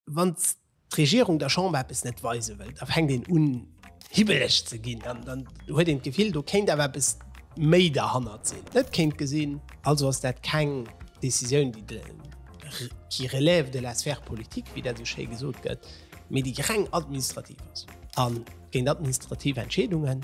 Wann d'Regierung der Chamber eppes net weise wëll, da fänkt een un hibbeleg ze ginn, dann huet een d'Gefill, do kéint awer eppes méi derhannert sinn. Net kéint gesinn, also ass dat keng Décisioun, qui relève de la sphère politique, wéi dat esou schéi gesot gëtt, mee déi reng administrativ ass. A géint administrativ Entscheedunge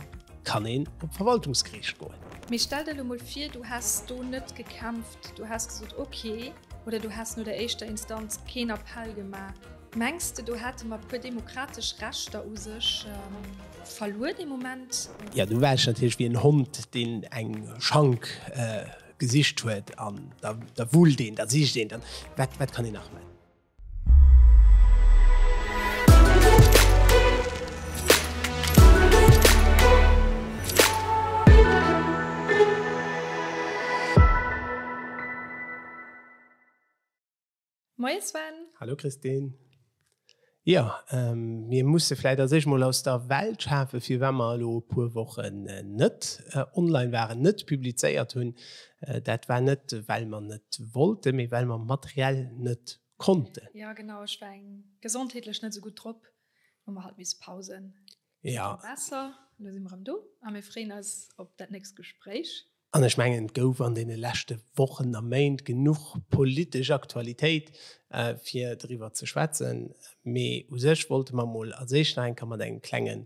kann een op d'Verwaltungsgeriicht goen. Mee stell der elo mol vir, du häss do net gekämpft, du häss gesot, okay, Oder du häss no der éischter Instanz keen Appell gemaach? Mengs de do hätte mer puer demokratesch Rechter u sech verluer dee Moment? Jo, du war ech natierlech wéi en Hond, deen eng Schank gesicht huet an da wullt een, da sicht een, wat kann een nach man? Moie Sven. Hallo Christine. Jo, mir musse vläit a sech mol aus der Welt schafe firwat mer elo e puer Wochen net online waren, net publizéiert hunn. Dat war net well mer net wollten, mee well mer materiell net konnten. Ja genau, ech war eng gesondheetlech net esou gutt drop, hu mer halt misse pausen. Ja. Besser, elo si mer erëm do a mir freeën eis op dat nächst Gespréich. An ech mengen, et gouf an deene leschte Wochen a Méint genuch politesch Aktualitéit, fir driwwer ze schwätzen. Mee u sech wollte mer emol als éischt nach eng Kéier mat engem klenge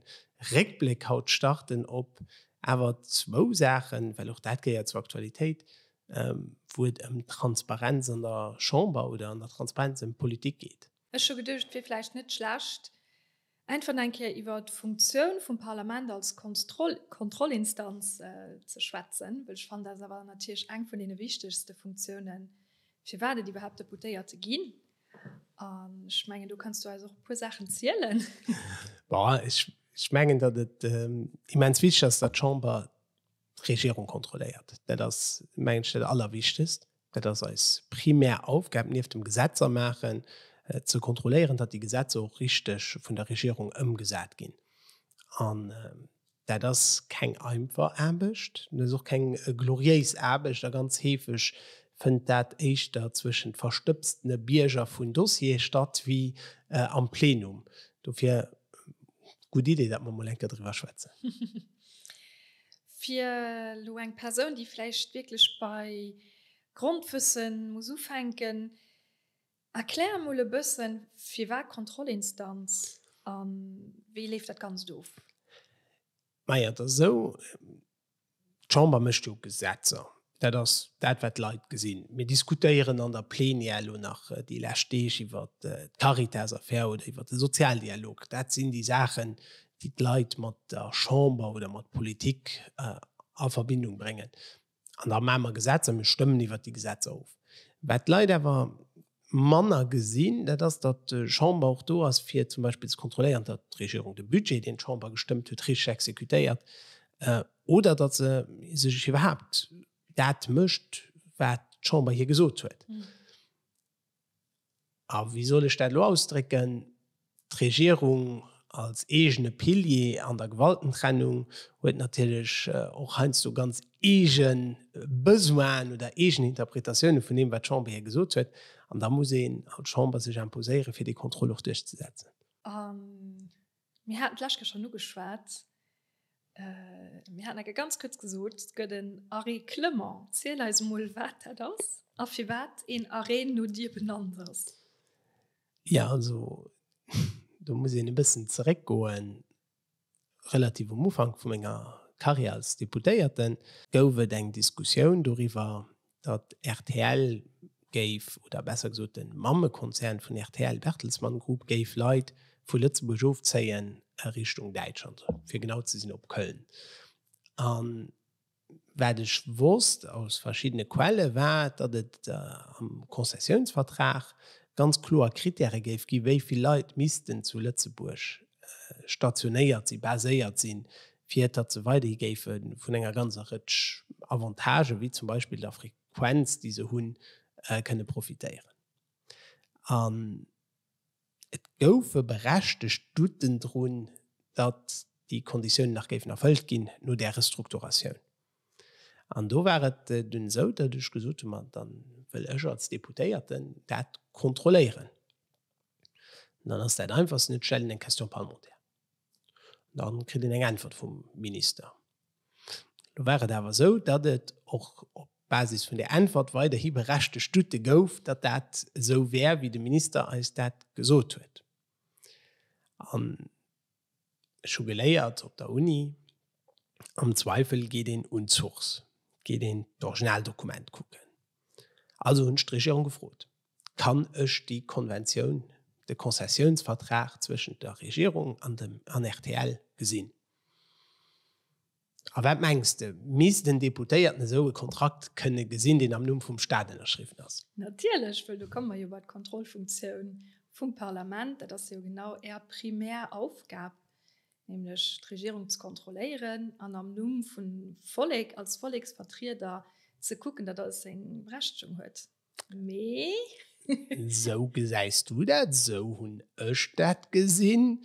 Réckbléck haut starten op Awer zwou Saachen, well och dat gehéiert zur Aktualitéit, wou et ëm d'Transparenz an der Chamber oder an der Transparenz ëm d'Politik geet. Ech hu geduecht, et wier vläicht net schlecht, einfach nach eng Kéier iwwer d'Funktioun vum Parlament als Kontrollinstanz ze schwätzen, well ech fannen, dat ass awer natierlech eng vun deene wichtegste Funktiounen, firwat et iwwerhaapt Deputéierte ginn. Um, ich mengen du kannst du also auch pur Sachen zielen ich, ich mengen dat et ähm, immens wichtig ass dat Chamber Regierung kontrolléiert dat ass mengen dat allerwichtigst dat ass als primär Aufgab nief dem Gesetzer machen äh, zu kontrollieren dat die Gesetze auch richtig vun der Regierung ëmgesat gin an äh, Dat ass keng einfach Aarbecht, dat ass och keng gloriéis Aarbecht a ganz heefeg fënnt dat éischter zwëschent verstëbstene Bierger vun Dossiere statt wéi am Plenum. Dofir gutt Idee, datt mer mol eng Kéier driwwer schwätzen. Fir elo eng Persoun, déi vläicht wierklech bei Grondwësse muss ufänken, Erklär emol e bëssen, firwat Kontrollinstanz a wéi leeft dat Ganzt of? Majo, et ass esou, d'Chamber mécht jo Gesetzer. Dat ass dat, wat d'Leit gesinn. Mir diskutéieren an der Plenière elo nach déi lescht Deeg iwwer d'Caritas-Affär oder iwwer de Sozialdialog. Dat sinn déi Saachen, déi d'Leit mat der Chamber oder mat Politik a Verbindung bréngen. An da maache mer Gesetzer, mir stëmmen iwwert déi Gesetzer of. Wat d'Leit awer manner gesinn, dat ass, datt d'Chamber och do ass, fir zum Beispill ze kontrolléieren, datt d'Regierung de Budget, deen d'Chamber gestëmmt huet, richteg exekutéiert oder datt se sech iwwerhaapt dat mécht, wat d'Chamber hir gesot huet. a wéi soll ech dat elo ausdrécken, d'Regierung als eegene Pilier an der Gewaltentrennung huet natierlech och heiansdo ganz eege Besoinen oder eegen Interpretatioune vun deem, wat d'Chamber hir gesot huet. An da muss een als Chamber sech imposéieren, fir dee Contrôle och duerchzesetzen. Mir haten d'lescht Kéier schonn ugeschwat, mir haten enke ganz kuerz gesot, et gëtt en Arrêt Clement. Ziel eis emol, wat dat ass a firwat een Arrêt no dir benannt ass. Jo, also do muss een e bëssen zeréckgoen. Relativ um Ufank vu menger Karriär als Deputéierten gouf et eng Diskussioun doriwwer, datt rtl géif, oder besser gesot de Mammekonzern vun rtl, Bertelsmann Group, géif Leit vu Lëtzebuerg ofzéien a Richtung Däitschland, fir genau ze sinn op Köln. A wat ech wosst aus verschiddene Quelle war, datt et am Konzessiounsvertrag ganz kloer Krittäre géif gi wéi vill Leit missten zu Lëtzebuerg stationéiert si, baséiert sinn, fir datt se weiderhi géife vun enger ganzer Rëtsch Avantagen, wéi zum Beispill der Frequenz, déi se hunn, kënne profitéieren. An et goufe berechtegt Douten drun, datt déi Konditiounen nach géifen erfëllt ginn no där Restrukturatioun. An do war et dunn esou, datt ech gesot hunn, Ma da wëll ech als Deputéierten dat kontrolléieren. An dann ass dat Einfachsten, et stellt een eng Question parlementaire. Dann kritt een eng Äntwert vum Minister. Lo war et awer esou, datt et och op Basis vun där Äntwert weiderhi berechtegt Doute gouf, datt dat esou wär, wéi de Minister eis dat gesot huet. An ech hu geléiert op der Uni, am Zweifel geet een un d'Source, geet een d'Originaldokument kucken. Also hunn ech d'Regierung gefrot. kann ech déi Konventioun, de Konzessiounsvertrag zwëschent der Regierung an dem an rtl gesinn. A wat mengs de, misst en Deputéierten esou e Kontrakt kënne gesinn, deen am Numm vum Stat ënnerschriwwen ass? Natierlech, wëll do komme mer jo bei d'Kontrollfunktioun vum Parlament. Dat ass jo genau Är primär Aufgab, nämlech d'Regierung ze kontrolléieren an am Numm vum Vollek, als Volleksvertrieder, ze kucken, datt alles seng Berechtigung huet. Mee. Esou gesäis du dat, esou hunn ech dat gesinn.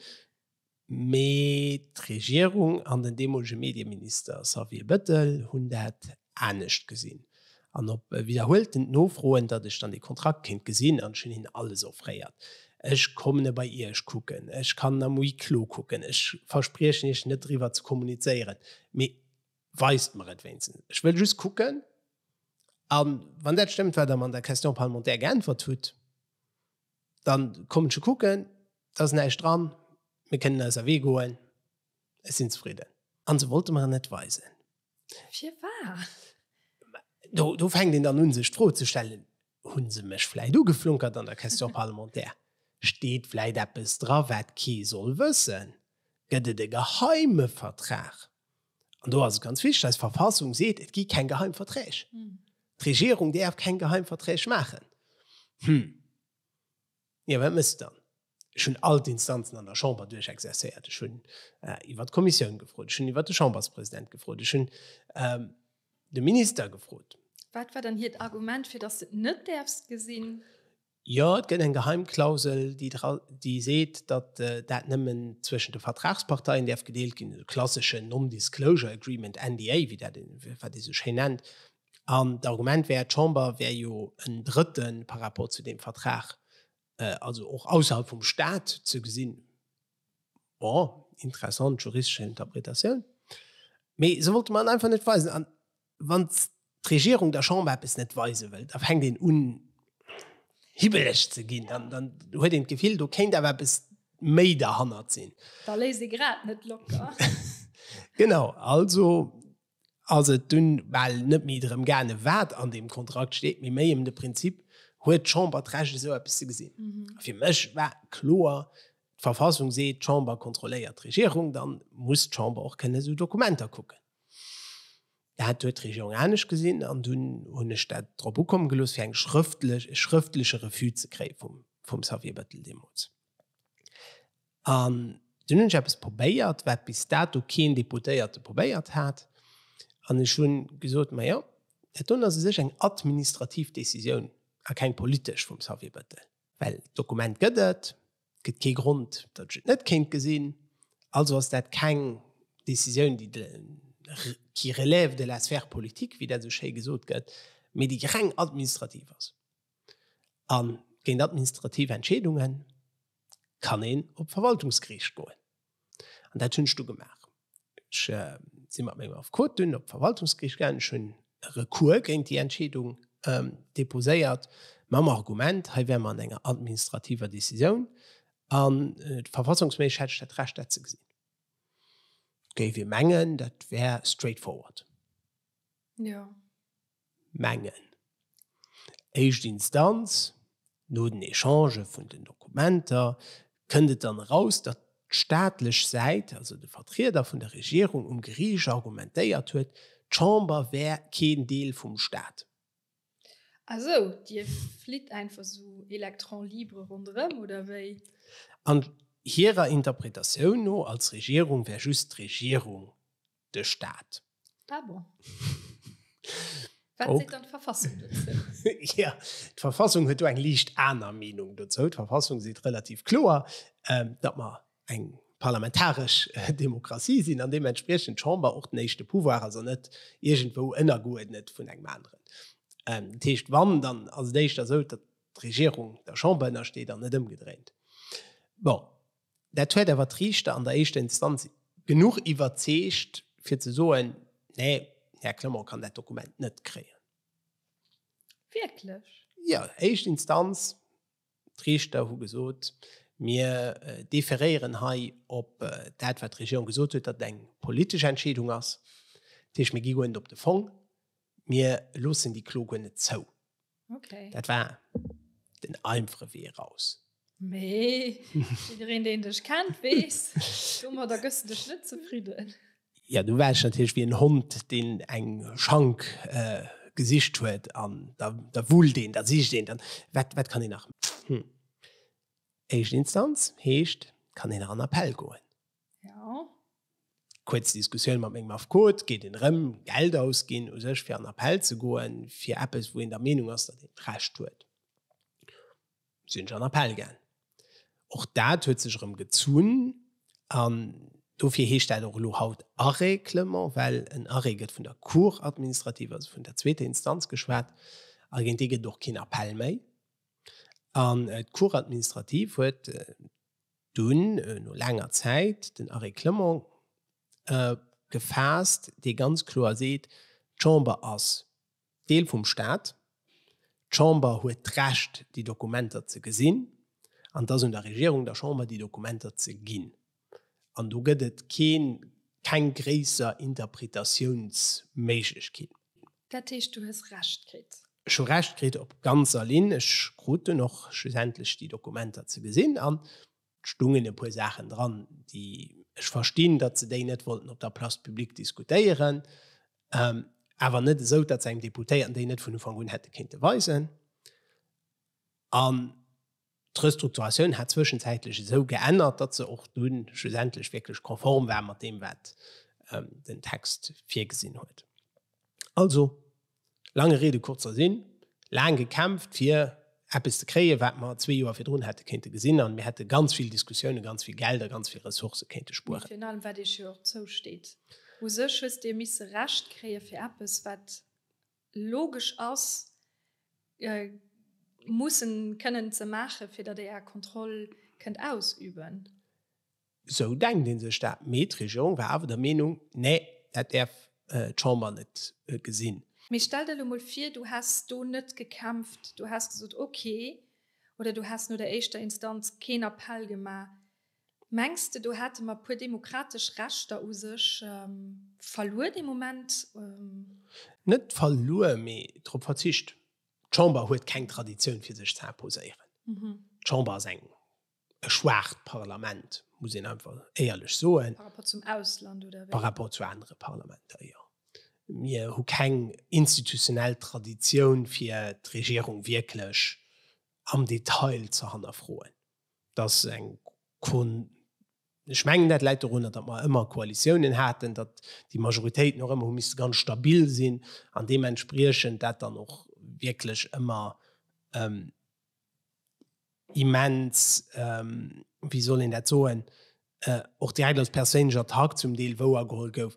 Mee d'Regierung an den deemolege Medieminister Xavier Bettel hunn dat anescht gesinn. An op widderhuelten Nofroen, datt ech dann dee Kontrakt kéint gesinn, an ech hunn hinnen alles offréiert, ech kommen e bei Iech kucken, ech kann en am Huis clos kucken, ech verspriechen Iech net driwwer ze kommunizéieren, mee weist mer et wéinstens, ech wëll just kucken, A wann dat stëmmt, wat Der mer an der Question parlementaire geäntwert hutt, da kommen ech kucken. Da ass näischt dran. Mir kënnen eiser Wee goen. Ech sinn zefridden. A se wollte mer en net weisen. Firwat? Do fänkt een dann un, sech d'Fro ze stellen, Hunn se mech vläit ugeflunkert an der Question parlementaire? Steet vläit eppes dra wat kee soll wëssen? Gëtt et e geheime Vertrag? An do ass et ganz wichteg, eis Verfassung seet, et gi keng geheim Verträg. D'Regierung däerf keng geheim Verträg maachen. Hm. Jo, wat méchs de dann? Ech hunn all d'Instanzen an der Chamber duerchexercéiert. Ech hunn iwwer d'Kommissioun gefrot, ech hunn iwwer de Chamberspresident gefrot, ech hunn de Minister gefrot. Wat war dann hiert Argument, fir datt s de et net däerfs gesinn? Jo, et gëtt eng Geheimklausel, déi seet, datt dat nëmmen zwëschent de Vertragsparteien däerf gedeelt ginn, e klasseschen Non-Disclosure Agreement, NDA, wéi dat, wat ee sou schéin nennt. An d'Argument wär, d'Chamber wär jo en Drëtte par rapport zu deem Vertrag, also och ausserhalb vum Stat ze gesinn. Bon, interessant juristesch Interpretatioun. Mee se wollte mer et einfach net weisen. A wann d'Regierung der Chamber eppes net weise wëll, da fänkt een un hibbeleg ze ginn, dann huet een d'Gefill, do kéint awer eppes méi derhannert sinn. Da léisst ee grad net locker. Genau, also ass et dunn bal net méi drëm gaange wat an deem Kontrakt steet, mee méi ëm de Prinzip, Huet d'Chamber d'Recht esou eppes ze gesinn? A fir mech war kloer, D'Verfassung seet, d'Chamber kontrolléiert d'Regierung, da muss d'Chamber och kënnen esou Dokumenter kucken. Dat huet d'Regierung anescht gesinn an dunn hunn ech dat drop ukomme gelooss fir eng schrëftlech, e schrëftleche Refus ze kréie vum Xavier Bettel deemools. An dunn hunn ech eppes probéiert, wat bis dato keen Deputéierte probéiert hat, an ech hu gesot, Majo, dat do ass u sech eng administrativ Décisioun a keng politesch vum Xavier Bettel, well d'Dokument gëtt et, et gëtt kee Grond, datt ech et net kéint gesinn, also ass dat keng Décisioun, déi de, qui relève de la sphère politique, wéi dat esou schéi gesot gëtt, mee déi reng administrativ ass. An géint administrativ Entscheedungen kann een op d'Verwaltungsgeriicht goen. An dat hunn ech du gemaach. Ech si mat mengem Affekot dunn op d'Verwaltungsgeriicht gaangen. Ech hunn e Recours géint déi Entscheedung deposéiert mam Argument, hei wäre mer an enger administrativer Decisioun an verfassungsméisseg hätt ech dat Recht dat ze gesinn. Géif ee mengen, dat wär straightforward. Jo. Mengen. Éischt Instanz, no den Echangen vun den Dokumenter, kënnt et dann eraus, datt d'staatlech Säit, also de Vertrieder vun der Regierung um Geriicht, argumentéiert huet, d'Chamber wär keen Deel vum Staat. Ah sou, Dir flitt einfach sou électron libre ronderëm, oder wéi? An hirer Interpretatioun no, als Regierung wär just d'Regierung de Staat. Ah bon. Wat seet dann d'Verfassung dozou? Ja, d'Verfassung huet do eng liicht aner Meenung dozou. D'Verfassung seet relativ kloer, ähm, datt mer eng parlamentaresch äh, Demokratie sinn an deementspriechend d'Chamber och den éischte Pouvoir ass an net iergendwou ënnergeuerdnet vun engem aneren. Ähm, dat heescht, wann, dann ass et éischter esou, datt d'Regierung der Chamber ënnersteet an net ëmgedréint. Bon. Dat huet awer d'Riichter an der éischter Instanz genuch iwwerzeegt, fir ze soen, Nee, Här Clement kann dat Dokument net kréien. Wierklech? Jo, éischt Instanz, d'Riichter hu gesot, Mir deferéieren hei op dat, wat d'Regierung gesot huet, datt et eng politesch Entscheedung ass. Dat heescht, mir gi guer net op de Fong, mir loossen déi Klo guer net zou. Okay. Dat war den einfache Wee raus. Nee, jedereen, den dich kennt, wees, dummer, da gehst du dich nicht zufrieden. Ja, du warst natürlich wie ein Hund, den eng Schank äh, gesicht huet an da, da wullt den, da sicht den, dann wat, wat kann ich nach? Hm. Erste Instanz heescht, kann den an Appell goen. Ja. Kuerz Diskussioun mat mengem Affekot, Gétt een erëm Geld ausginn u sech fir an Appell ze goen, fir eppes wou een der Meenung ass, datt een d'Recht huet? Sinn ech an Appell gaang. Och dat huet sech erëm gezunn an dofir heescht dat och elo haut Arrêt-clement, well en Arrêt gëtt vun der Cour administrative, also vun der zweeter Instanz geschwat a géint dee gëtt et och keen Appell méi. An d'Cour administrative huet Dunn, no laanger Zäit, den Arrêt Clement gefaasst, dee ganz kloer seet, D'Chamber ass Deel vum Stat, d'Chamber huet d'Recht, déi Dokumenter ze gesinn, an et ass un der Regierung, der Chamber, déi Dokumenter ze ginn. An do gëtt et keng gréisser Interpretatiounsméiglechkeet. Dat heescht, du hues Recht kritt. Ech hu Recht kritt op ganzer Linn. Ech krut dunn och schlussendlech déi Dokumenter ze gesinn an et stungen e puer Saachen dran, déi ech verstinn, datt se déi net wollten op der Place publique diskutéieren, awer net esou, datt se engem Deputéierten déi net vun Ufank un hätte kéinte weisen. An D'Restrukturatioun hat zwëschenzäitlech esou geännert, datt se och dunn schlussendlech wierklech konform war mat deem, wat den Text virgesinn huet. Also, laange Riede, kurzer Sinn, Laang gekämpft, fir eppes ze kréien, wat mer zwee Joer virdrun hätte kéinte gesinn, a mir hätte ganz vill Diskussiounen, ganz vill Geld a ganz vill Ressourcë kéinte spueren. Mee virun allem, wat Iech jo och zousteet. U sech hues Dir misse Recht kréien fir eppes, wat logesch ass, mussen kënnen ze maachen, fir datt ee Är Kontroll kënnt ausüben. Esou denkt ee sech dat, mee d'Regierung war awer der Meenung, Nee, dat däerf d'Chamber net gesinn. Mee stell der elo mol vir, Du häss do net gekämpft, Du häss gesot, Okay, oder Du häss no der éischter Instanz keen Appell gemaach. Mengs de do hate mer puer demokratesch Rechter u sech verluer dee Moment? Net verluer, mee drop verzicht. D'Chamber huet keng Traditioun fir sech ze imposéieren. D'Chamber ass eng e schwaacht Parlament, muss een einfach éierlech soen. Par rapport zum Ausland oder wéi? Par rapport zu anere Parlamenter, jo. Mir hu keng institutionell Traditioun fir d'Regierung wierklech am Detail ze hannerfroen. dass eng Kon Ech mengen, dat läit dorunner, datt mer ëmmer Koalitiounen haten, datt déi Majoritéiten och ëmmer hu misste ganz stabil sinn an deementspriechend dat dann och wierklech ëmmer immens, wéi soll een dat soen, och direkt als perséinlech Attack zum Deel wouergeholl gouf.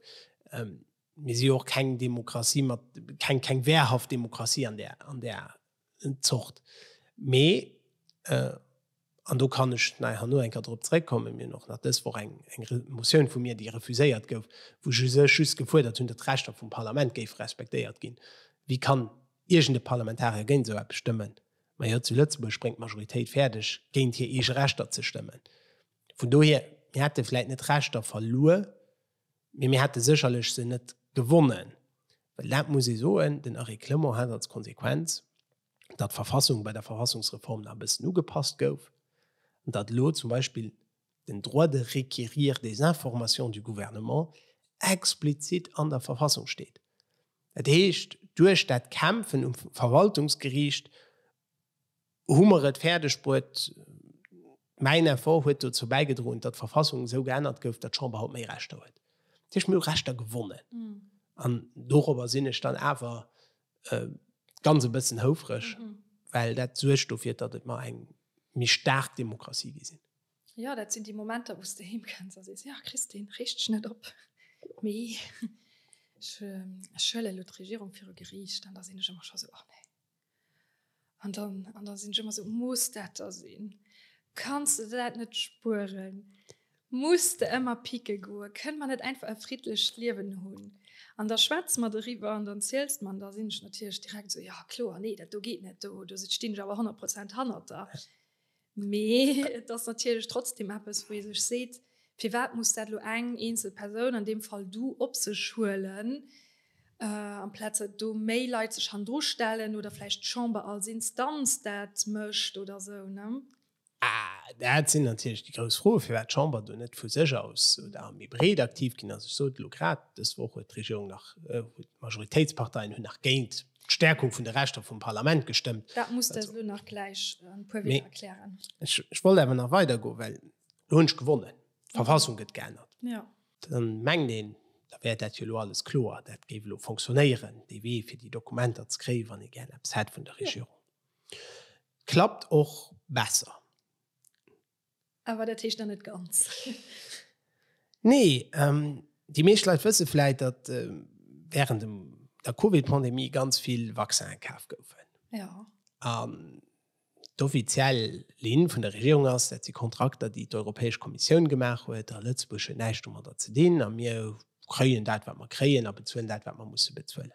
Mir si jo och keng Demokratie mat, keng wehrhaft Demokratie an där Zort. Mee, an do kann ech nei herno eng Kéier drop zréckkommen, mir hunn och nach dës Woch eng Motioun vu mir, déi refuséiert gouf, wou ech u sech just gefuerdert hunn, datt d'Rechter vum Parlament géife respektéiert ginn. Wéi kann iergend e Parlamentarier géint esou eppes stëmmen? Majo, zu Lëtzebuerg bréngt d'Majoritéit fäerdeg, géint hir eege Rechter ze stëmmen. Vun dohier, mir hätte vläicht net d'Rechter verluer, Mee mir hätte sécherlech se net gewonnen, well dat muss ee soen, den Eric Clement hat als Konsequenz, datt d'Verfassung bei der Verfassungsreform nach e bëssen ugepasst gouf an datt elo zum Beispill den Droit de requérir des informations du Gouvernement explizit an der Verfassung steet. Dat heescht, duerch dat Kämpfen um Verwaltungsgeriicht, Hu mer et fäerdegbruet, mäin Effort huet dozou bäigedroen, datt d'Verfassung esou geännert gouf, datt d'Chamber haut méi Rechter huet. Dat heescht, mir hu Rechter gewonnen. An dorobber sinn ech dann awer ganz e bëssen houfreg, well dat suergt dofir, datt et mer eng méi staark Demokratie gi sinn. Jo, dat sinn déi Momenter, wou s de heem kënns a sees, Jo, Christine, reegt dech net op, mee ech huelen elo d'Regierung viru Geriicht. An da sinn ech ëmmer scho sou, Och nee, An dann an dann sinn ech ëmmer esou, muss dat da sinn? Kanns de dat net spueren? Muss de ëmmer picke goen? Kënne mer net einfach e friddlecht Liewen hunn? An da schwätze mer doriwwer an dann ziels de mer an da sinn ech natierlech direkt esou, jo kloer, nee dat do geet net, do stinn ech awer honnert Prozent hannert der. Mee et ass natierlech trotzdem eppes, wou ee sech seet, Firwat muss dat elo eng eenzel Persoun, an deem Fall du, op sech huelen, amplaz datt do méi Leit sech hannendru stellen oder vläicht d'Chamber als Instanz dat mécht oder esou, ne? Dat sinn natierlech déi grouss Froen, firwat d'Chamber do net vu sech aus oder méi breet aktiv ginn ass. Ech sot elo grad, dës Woch huet d'Regierung nach, huet d'Majoritéitsparteien hunn nach géint d'Stärkung vun de Rechter vum Parlament gestëmmt. Dat muss der elo nach gläich an e puer Wierder erklären. Ech, ech wollt awer nach weider goen, well elo hunn ech gewonnen, d'Verfassung gëtt geännert. Jo. Dann mengt een, da wär dat jo elo alles kloer, dat géif elo fonctionnéieren, dee Wee fir déi Dokumenter ze kréien, wann ee gären eppes hätt vun der Regierung. Klappt och besser. Awer dat heescht nach net ganz. Nee, déi meescht Leit wësse vläit, datt während dem der Covid-Pandemie ganz vill Vaccine kaf goufen. Ja. An d'offiziell Linn vun der Regierung ass, dat si Kontrakter, déi d'Europäesch Kommissioun gemaach huet, a Lëtzebuerg huet näischt domadder ze dinn a mir kréien dat, wat mer kréien a bezuelen dat, wat mer musse bezuelen.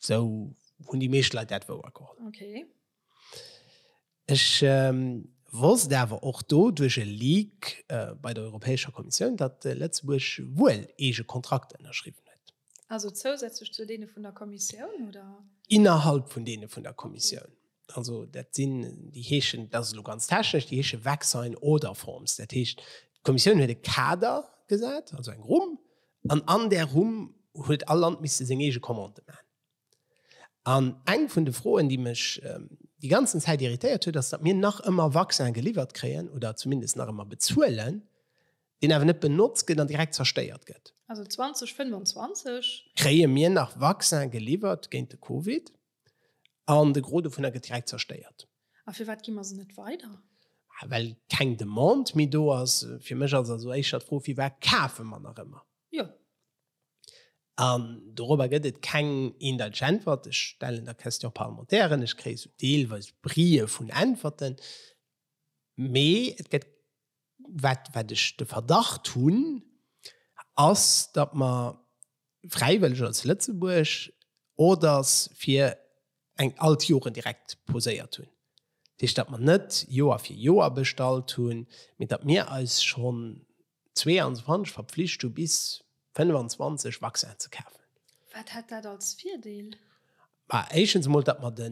Sou hunn déi meescht Leit dat wouer geholl. Okay. Ech wosst awer och do duerch e Leak bei der Europäescher Kommissioun, datt Lëtzebuerg wuel eege Kontrakter ënnerschriwwen huet. Also zousätzlech zu deene vun der Kommissioun, oder? Innerhalb vun deene vun der Kommissioun. also dat sinn déi heeschen dat lo ganz technesch, déi heesche Vaccine oder Forms. Dat heescht d'Kommissioun huet e Kader gesat, also eng Rumm an an der Rumm huet all Land misste seng eege Commande man. An eng vun de Froen, déi mech ähm, déi ganzen Zäit irritéiert huet, ass dat mir nach ëmmer Vaccin geliwwert kréien oder zumindest nach ëmmer bezuelen, deen awer net benotzt gëtt an direkt zerstéiert gëtt. Also 2025 kréie mir nach Vaccin geliwwert géint de Covid. an de Gros dovunner gëtt direkt zerstéiert. A firwat gi mer se net weider? Well keng Demande méi do ass. Fir mech ass also éischer d'Fro, firwat kafe mer nach ëmmer? Jo. An dorobber gëtt et keng eendeiteg Äntwert. Ech stellen der Question parlementaire, ech kréie sou deelweis Brie vun Äntwerten, mee et gëtt wat, wat ech de Verdacht hunn, ass, datt mer fräiwëlleg als Lëtzebuerg Orders fir eng all d'Joren direkt poséiert hunn. Dat heescht, datt mer net Joer fir Joer bestallt hunn, mee datt mir eis schonn 22 verpflicht hu bis. 25 Vaccin ze kafen. Wat hätt dat als Virdeel? Ma éischens emol, datt mer de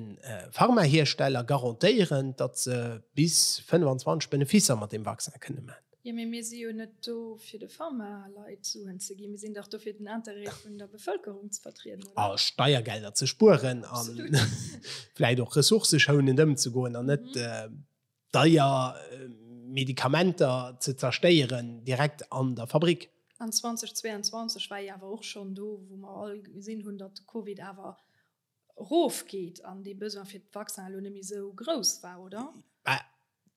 Pharmahiersteller garantéieren, datt se bis 25 Beneficer mat deem Vaccin kënne man. Jo, mee mir si jo net do fir de Pharmaleit Suen ze ginn. Mir sinn dach do fir den Interêt vun der Bevëlkerung ze vertrieden, oder? A Steiergelder ze spueren a vläit och ressourceschounend ëmzegoen an net deier Medikamenter ze zerstéieren, direkt an der Fabrik. An 2022 war ee awer och schonn do, wou mer all gesinn hunn, datt de Covid awer erofgeet an dee Besoin fir d'Vaccin elo net méi esou grouss war, oder?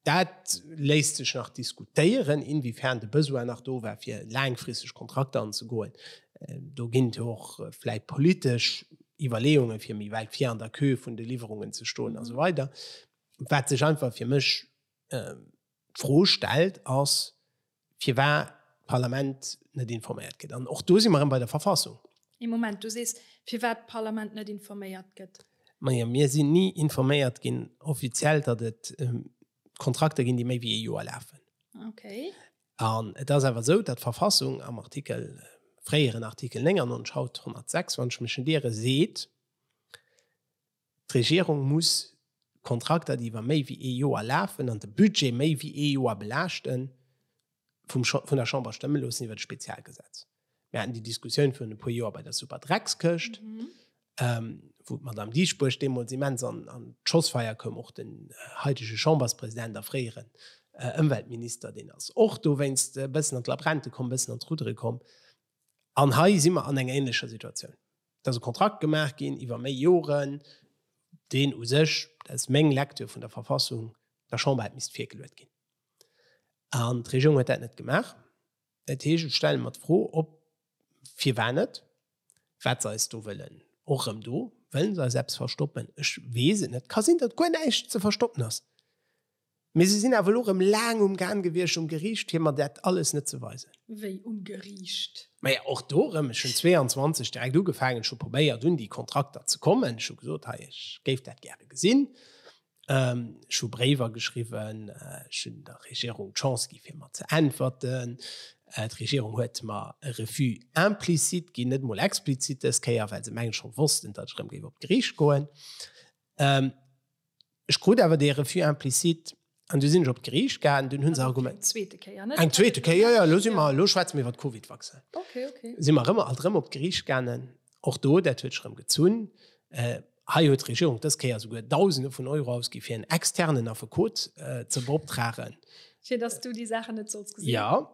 Dat léisst sech nach diskutéieren, inwiefern de Besoin nach do war, fir laangfristeg Kontrakter anzegoen. Do ginn et jo och vläicht politesch Iwwerleeunge fir méi wäit vir an der Queue vun de Liwwerungen ze stoen a sou weider. Wat sech einfach fir mech ähm, d'Fro stellt, ass, firwat d'Parlament net informéiert gëtt. An och do si mer erëm bei der Verfassung. Ee Moment, du sees, firwat d'Parlament net informéiert gëtt? Majo, mir sinn ni informéiert ginn offiziell, datt et ähm, Kontrakter ginn, déi méi wéi ee Joer lafen. Okay. An et ass awer esou, datt d'Verfassung am Artikel, fréieren Artikel 99, haut 106, wann ech mech net iere, seet, D'Regierung muss Kontrakter, déi iwwer méi wéi ee Joer lafen an de Budget méi wéi ee Joer belaaschten, vun der Chamber stëmme loossen iwwer e Spezialgesetz. Mir haten déi Diskussioun virun e puer Joer bei der Superdreckskëscht, wou d'Madame Dieschbourg deemools immens an d'Schossfeier koum, och den haitege Chamberspräsident a fréieren Ëmweltminister, deen ass och dowéinst e bëssen an d'Labränte komm, e bëssen an d'Ruddere komm. An hei si mer an enger änlecher Situatioun. Et ass e Kontrakt gemaach ginn iwwer méi Joren, deen u sech, dat ass meng Lektür vun der Verfassung, der Chamber hätt misst virgeluet ginn. An d'Regierung huet dat net gemaach. Dat heescht, ech stelle mer d'Fro, ob, firwat net, wat se eis do wëllen. Och erëm do, Wëllen se eis eppes verstoppen? Ech weess et net. Et ka sinn, datt guer näischt ze verstoppen ass. Mee se sinn awer elo erëm laang um Gan gewiescht um Geriicht, fir mer dat alles net ze weisen. Wéi um Geriicht? Maja, och do erëm, ech hunn 22 direkt ugefaangen, ech hu probéiert, un déi Kontrakter ze kommen. Ech hu gesot, hei, ech géif dat gäre gesinn. Ech hu Bréiwer geschriwwen, ech hunn der Regierung d'Chance gi fir mer ze äntwerten. D'Regierung huet mer e Refus implicite ginn, net emol explizit dës Kéier, well se mengen, ech scho wossten, datt ech erëm géif op d'Geriicht goen. Ech krut awer dee Refus implicite an du sinn ech op d'Geriicht gaangen, dunn hu se argument. Eng zweete Kéier, net? Eng zweete Kéier, jo, jo, lo si mer, lo schwätze mir iwwer d'Covid-Vaccin. Okay, okay. Si mer erëm, alt erëm op d'Geriicht gaangen. Och do, dat huet sech erëm gezunn. Hei huet d'Regierung dës Kéier esouguer Dausende vun Euro ausgi fir en externen Affekot ze beoptragen. Fir dass du déi Saachen net solls gesinn. Jo,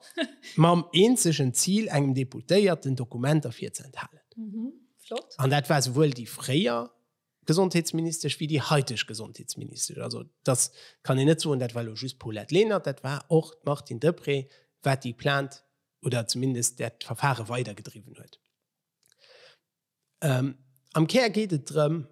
mam eenzegen Zil, engem Deputéierten Dokumenter virzeenthalen. Flott. An dat war souwuel déi fréier Gesondheetsministesch wéi déi haiteg Gesondheetsministesch. Also da kann een net soen, dat war elo just d'Paulette Lenert, dat war och d'Martine Deprez, wat déi Plainte oder zumindest dat Verfare weidergedriwwen huet. Am Kär geet et drëm,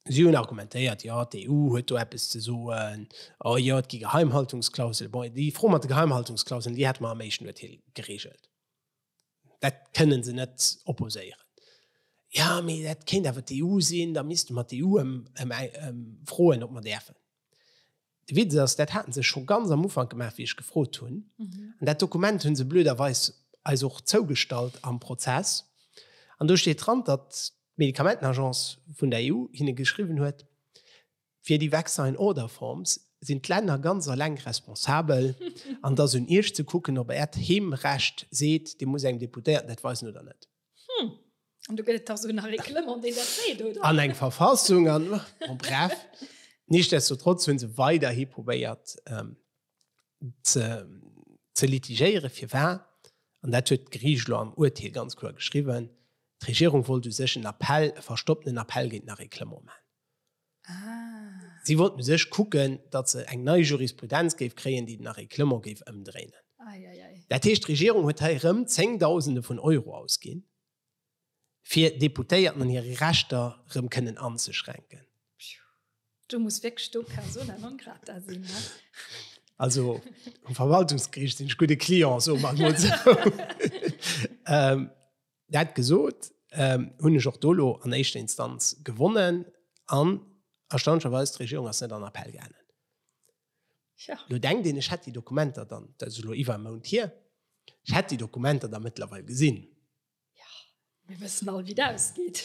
si hunn argumentéiert, jo d'EU huet do eppes ze soen, oh jo et gi Geheimhaltungsklausele. Bon, déi Fro mat de Geheimhaltungsklauseln, déi hätte mer am éischten Uerteel gereegelt. Dat kënnen se net opposéieren. Ja, mee dat kéint awer d'EU sinn, da misste mer d'EU froen, ob mer däerfen. De Witz ass, dat haten se scho ganz am Ufank gemaach, wéi ech gefrot hunn. An dat Dokument hu se blöderweis eis och zougestallt am Prozess. An do steet dran, datt d'Medikamentenagence vun der EU hinne geschriwwen huet, Fir déi Vaccine Order Forms sinn d'Länner ganz alleng responsabel an et ass un Iech ze kucken, ob Äert Heemrecht seet, Dir musst engem Deputéierten dat weisen oder net. Hm. An do gëtt et dach esou en Règlement, deen dat seet, oder? An eng Verfassung an, bon bref. Nichtsdestotrotz hu se weiderhi probéiert ze litigéieren. Firwat? An dat huet d'Geriicht elo am Urteel ganz kloer geschriwwen, D'Regierung wollt u sech en Appell, e verstoppten Appell géint en Règlement maachen. Si wollt u sech kucken, datt se eng nei Jurisprudenz géif kréien, déi den Arrêclement géif ëmdréinen. Dat heescht, d'Regierung huet hei erëm Zéngdausende vun Euro ausginn, fir Deputéierten an hire Rechter erëm kënnen anzeschränken. Do muss wierklech do persona non grata sinn. Also um Verwaltungsgeriicht sinn ech gudde Client, soe mer emol esou. Dat gesot, ähm, hunn ech och do elo an éischter Instanz gewonnen an erstaunlecherweis, d'Regierung ass net an Appell gaangen. Ja. Lo denkt een, ech hätt déi Dokumenter dann, dat ass elo iwwer e Mount hier, ech hätt déi Dokumenter da mëttlerweil gesinn. Ja, mir wëssen all, wéi dat ausgeet.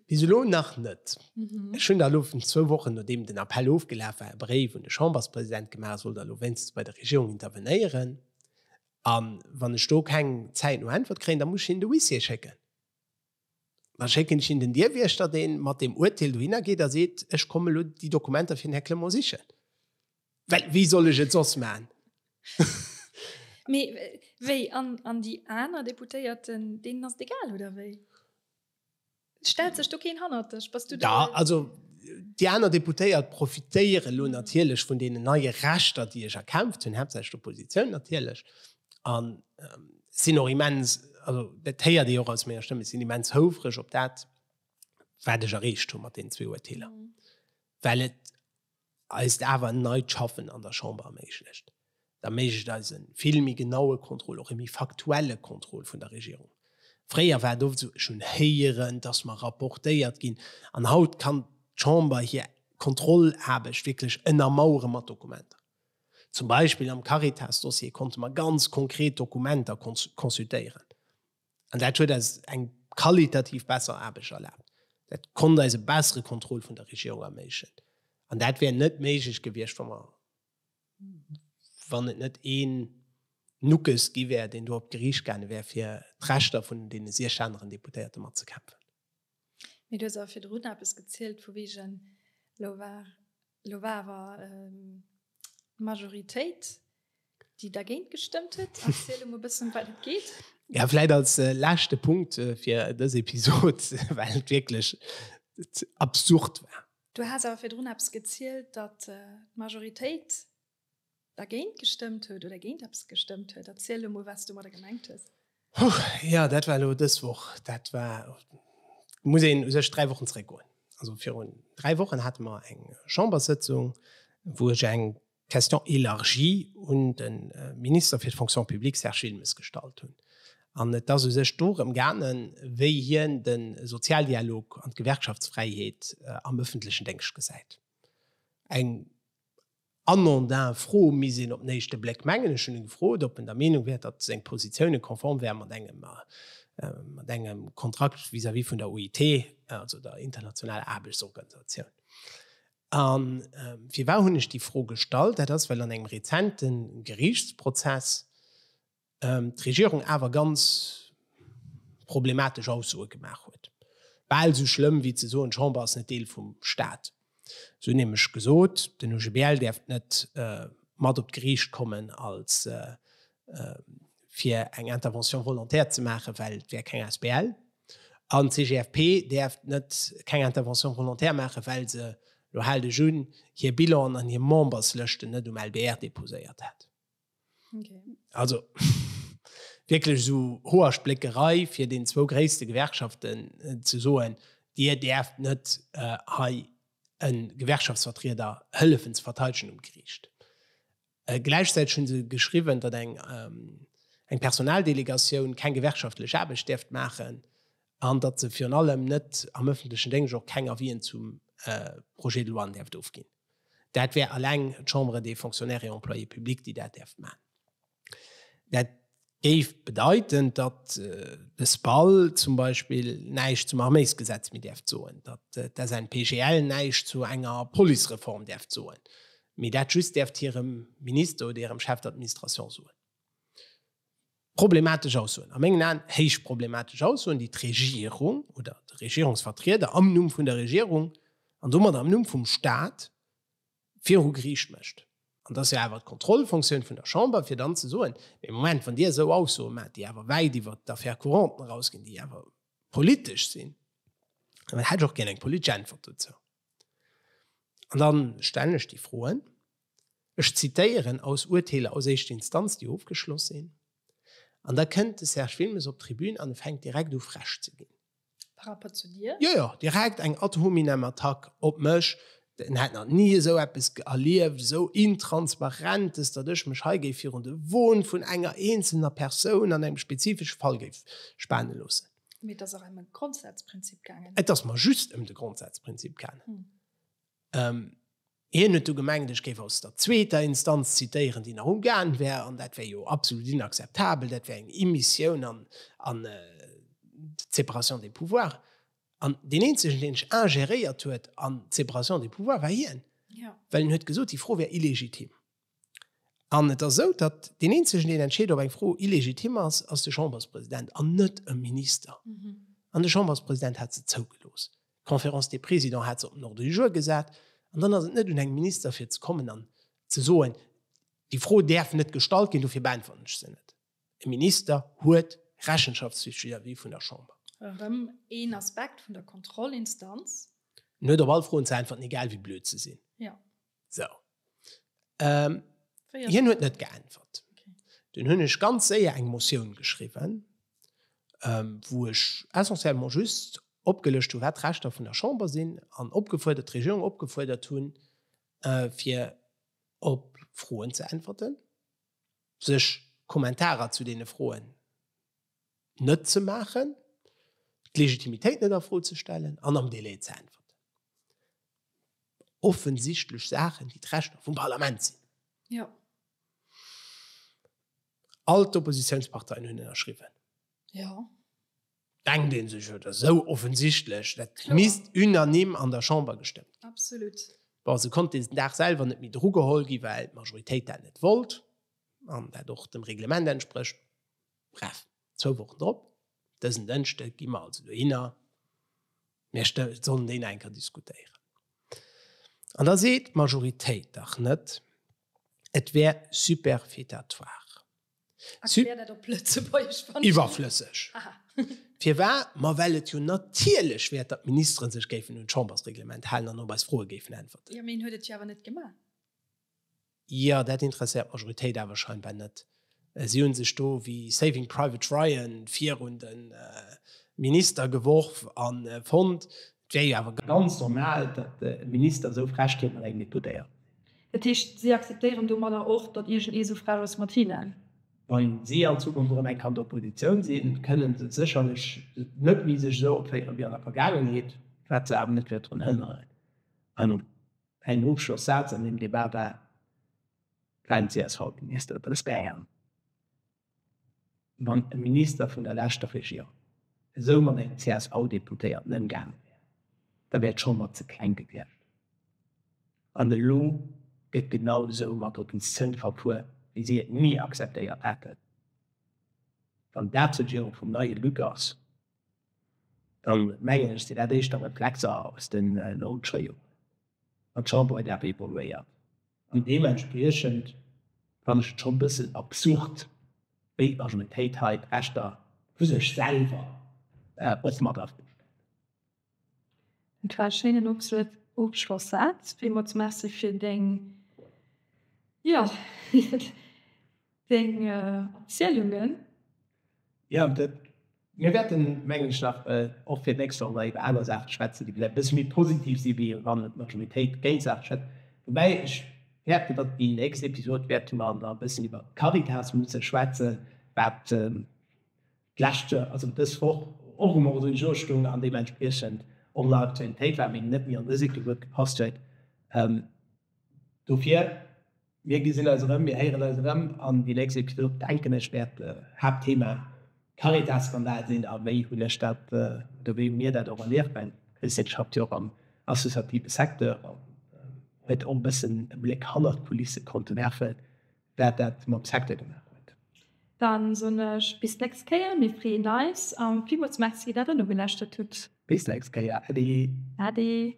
Bis elo nach net. Mhm. Ech hunn da elo vun zwou Wochen, nodeem den Appell ofgelaf war, e Bréif un de Chamberspräsident gemaach, soll da elo wéinstens bei der Regierung intervenéieren. An wann ech do keng Zäit no Äntwert kréien, da muss ech hinnen de Huissier schécken. Da schécken ech hinnen den Dierwiechter, dee mat deem Uerteel dohinner geet a seet, ech kommen elo déi Dokumenter fir den Här Clement sichen. Well wéi soll ech et soss maachen? Mee wéi, an déi aner Deputéierten, deenen ass et egal, oder wéi? Stellt sech do keen hannert dech? Bass du da? Da, also déi aner Deputéiert profitéiere lo natierlech vun deenen neie Rechter, déi ech erkämpft hunn, haaptsächlech d'Oppositioun natierlech, an sinn och immens, also dat héiert ee och aus menger Stëmm, ech sinn immens houfreg op dat, wat ech erreecht hu mat deenen zwee Urteeler, well et eist awer neit Schaffen an der Chamber erméiglecht, erméiglecht eis e vill méi genaue Contrôle, och e méi faktuelle Contrôle vun der Regierung. Fréier war et oft esou, ech hunn héieren, dass mer rapportéiert ginn, an haut kann d'Chamber hir Kontrollaarbecht wierklech ënnermauere mat Dokumenter. Zum Beispill am Caritas-Dossier konnte mer ganz konkret Dokumenter consultéieren. An dat huet eis eng qualitativ besser Aarbecht erlaabt. Dat konnt eis e bessere Contrôle vun der Regierung erméiglechen. An dat wär net méiglech gewiescht, wa mer, wann et net een Nuckes gi wär, deen do op d'Geriicht gaange wär, fir d'Rechter vun deene siech aneren Deputéierte matzekämpfen. Mee du hues awer virdrun eppes gezielt vu wegen lo war lo war awer d'Majoritéit déi dergéint gestëmmt huet. Erziel emol e bëssen ëm wat et geet. Ja vläit als leschte Punkt fir dës Episod, well et wierklech absurd war. Du has awer virdrun eppes gezielt, datt d'Majoritéit Dergéint gestëmmt huet oder géint eppes gestëmmt huet. Erziel elo mol, wat s du domadder gemengt hues. Huh, jo, dat war elo dës Woch. Dat war, muss een u sech dräi Wochen zréckgoen. Also virun dräi Wochen hate mer eng Chamberssëtzung, wou ech eng Question élargie un de Minister fir d'Fonction publique Serge Wilmes gestallt hunn. An et ass u sech dorëm gaangen, wéi hien de Sozialdialog an d'Gewerkschaftsfräiheet am ëffentlechen Déngscht gesäit. Eng Armand Dain, Fro misst een op den éischte Bléck mengen, ech hunn e gefrot, ob en der Meenung wär, datt seng Positioune konform wäre mat engem, mat engem Kontrakt vis-à-vis vun der OIT, also der internationaler Aarbechtsorganisatioun. A firwat hunn ech déi Fro gestallt? Dat ass, well an engem rezente Geriichtsprozess, d'Regierung awer ganz problematesch Aussoe gemaach huet. Bal esou schlëmm, wéi ze soen, d'Chamber ass net Deel vum Staat. Se hunn nämlech gesot, den OGBL däerft net mat op d'Geriicht kommen, als fir eng Intervention volontaire ze maachen, well et wär keng asbl. An d'CGFP däerft net keng Intervention volontaire maachen, well se, elo haalt ech un, hir Bilanen an hir Memberslëschten net um LBR deposéiert hätt. Also wierklech esou Hoerspléckerei fir den zwou gréisste Gewerkschaften ze soen, Dir däerft net hei e Gewerkschaftsvertrieder hëllefen ze verteidegen um Geriicht. Gläichzäiteg hu se geschriwwen, datt eng Personaldelegatioun keng gewerkschaftlech Aarbecht däerft maachen an datt se virun allem net am ëffentlechen Déngscht och keng Avisen zum Projet de loi däerft ofginn. Dat wär eleng d'Chambre des Fonctionnaires et Employés publics, déi dat däerf maachen. Dat géif bedeiten, datt de SPAL zum Beispill näischt zum Arméisgesetz méi däerf soen, datt d'SNPGL näischt zu enger Policereform däerf soen, mee dat just däerft hirem Minister oder hirem Chef d'administration soen. Problematesch Aussoen, a mengen Aen héich problematesch Aussoen, déi d'Regierung oder de Regierungsvertrieder am Numm vun der Regierung an domadder am Numm vum Stat viru Geriicht mécht. An et ass jo awer d'Kontrollfonctioun vun der Chamber, fir dann ze soen, Mee Moment, wann Dir esou Aussoe maacht, déi awer wäit iwwert d'Affaires couranten erausginn, déi awer politesch sinn, dann hätt ech och gär eng politesch Äntwert dozou. An dann stellen ech déi Froen, ech zitéieren aus Urteeler aus éischter Instanz, déi ofgeschloss sinn, an da kënnt de Serge Wilmes op d'Tribün an e fänkt direkt u frech ze ginn. Par rapport zu dir? Jo, jo, direkt eng ad hominem Attack op mech, en hätt nach ni esou eppes erlieft, esou Intransparentes, datt ech mech hei géif virun de Won vun enger eenzelner Persoun an engem spezifesche Fall géif spane loossen. Mee et ass och ëm e Grondsazprinzip gaangen. Et ass mer just ëm de Grondsazprinzip gaangen. Hm. Ähm, hien huet du gemengt, ech géif aus der zweeter Instanz zitéieren, déi nach umgaangen wär, an dat wär jo absolut inakzeptabel, dat wär eng Immissioun an, an äh, d'Séparation des pouvoirs. An deen eenzegen, deen ech ingéréiert huet an d'Séparation des pouvoirs, war hien. Ja. Well en huet gesot, déi Fro wär illegitim. An et ass esou, datt deen Eenzegen, deen entscheet, ob eng Fro illegitim ass, ass de Chamberspräsident an net e Minister. An de Chamberspräsident hat se zougelooss. D'Conférence des Présidents hat se op den Ordre du jour gesat. An dann ass et net un engem Minister, fir ze kommen an ze soen, Déi Fro däerf net gestallt ginn, dofir beäntwerten ech se net. E Minister huet Rechenschaftspflicht vis-à-vis vun der Chamber. Erëm een Aspekt vun der Kontrollinstanz. En huet op all Froen ze äntwerten, egal wéi blöd se sinn. So. Ähm, hien huet net geäntwert. Den hunn ech ganz séier eng Motioun geschriwwen, ähm, wou ech essentiellement just opgelëscht hunn, wat d'Rechter vun der Chamber sinn an opgefuerdert, d'Regierung opgefuerdert hunn, äh, fir op Froen ze äntwerten, sech Kommentarer zu deene Froen, net ze maachen, d'Legitimitéit net a Fro ze stellen an am Delai ze äntwerten. Offensichtlech Saachen, déi d'Rechter vum Parlament sinn. Ja. All d'Oppositiounsparteien hunn ënnerschriwwen. Ja. Denkt ee sech, et ass esou offensichtlech, dat Kloer. misst unanime an der Chamber gestëmmt ginn. Absolut. Bon, se konnt deen Dag selwer net méi drugeholl ginn, well d'Majoritéit dat net wollt an dat och dem Reglement entsprécht. Bref, zwou Wochen drop, dësen Dënschde gi mer also dohinner, mir sollen deen enker diskutéieren. An da seet d'Majoritéit dach net, et wär superfétatoire. Erklär dat op Lëtzebuergesch, wann. Iwwerflësseg. Aha. Firwat? Ma well et jo natierlech wär, datt d'Ministeren sech géifen un d'Chambersreglement halen an op eis Froe géifen äntwerten. Jo, mee hien huet et jo awer net gemaach. Jo, dat interesséiert d'Majoritéit awer scheinbar net. Si hu sech do wéi Saving Private Ryan virun de Minister geworf a fonnt, et wär jo awer ganz normal, datt e Minister esou frech géif mat engem Deputéierten sinn. Dat heescht, si akzeptéieren domadder och, datt iergend ee sou frech ass mat hinnen? Wa si an Zukunft erëm eng Kand Oppositioun sinn, kënnen se sécherlech net méi sech esou opféieren wéi an der Vergaangenheet, wat se awer net wäert drun hënneren. Ein Ofschlossaz an dem Debat war, Kein CSV-Minister aus Bayern. Wann e Minister vun der leschter Regierung esou mat engem CSV-Deputéierten ëmgaange wär, da wär d'Chamber ze kleng gewiescht. An elo gëtt genau esou mat Opposition verfuer, wéi si et ni akzeptéiert hätten, wann dat d'Regierung vum neie Luc ass. Da mengen ech, sinn dat éischter Reflexer aus den logësche Joren, wat d'Chamber huet awer evoluéiert. An deementspriechend fannen ech et schonn e bëssen absurd, wéi d'Majoritéit hei d'Rechter vu sech selwer och mat a Fro stellt. Et war e schéinen Ofschlossaz. Villmools merci fir deng, jo, deng Erzielungen. Jo, mir wäerten, mengen ech, nach och fir d'nächst Joer iwwer aner Saache schwätzen, déi vläicht e bësse méi positiv sinn, wéi wann et d'Majoritéit géint d'Saach stëmmt. Woubäi ech fäerten, datt déi nächst Episod wäerte mer da e bëssen iwwer d'Caritas musse schwätzen, wat D'lescht Joer, also dës Woch, och um Ordre du jour stoung an deementspriechend och nach Aktualitéit war, mee net méi an dëse Cycle gutt gepasst huet. Dofir, mir gesinn eis erëm, mir héieren eis erëm an déi nächst Episod, denken ech, wäert d'Haaptthema Caritas-Skandal sinn. A wéi hunn ech dat oder wéi hu mir dat och erlieft? Mä d'Christine schafft jo och am associative Secteur an huet och e bëssen e Bléck hannert d'Kulisse konnte werfen. Waat daat mam Secteur gemaach huet. Dann soen ech bis nächst Kéier, mir freeën eis a villmools Merci dat der nogeläschtert hutt. Bis nächst Kéier, Äddi! Äddi!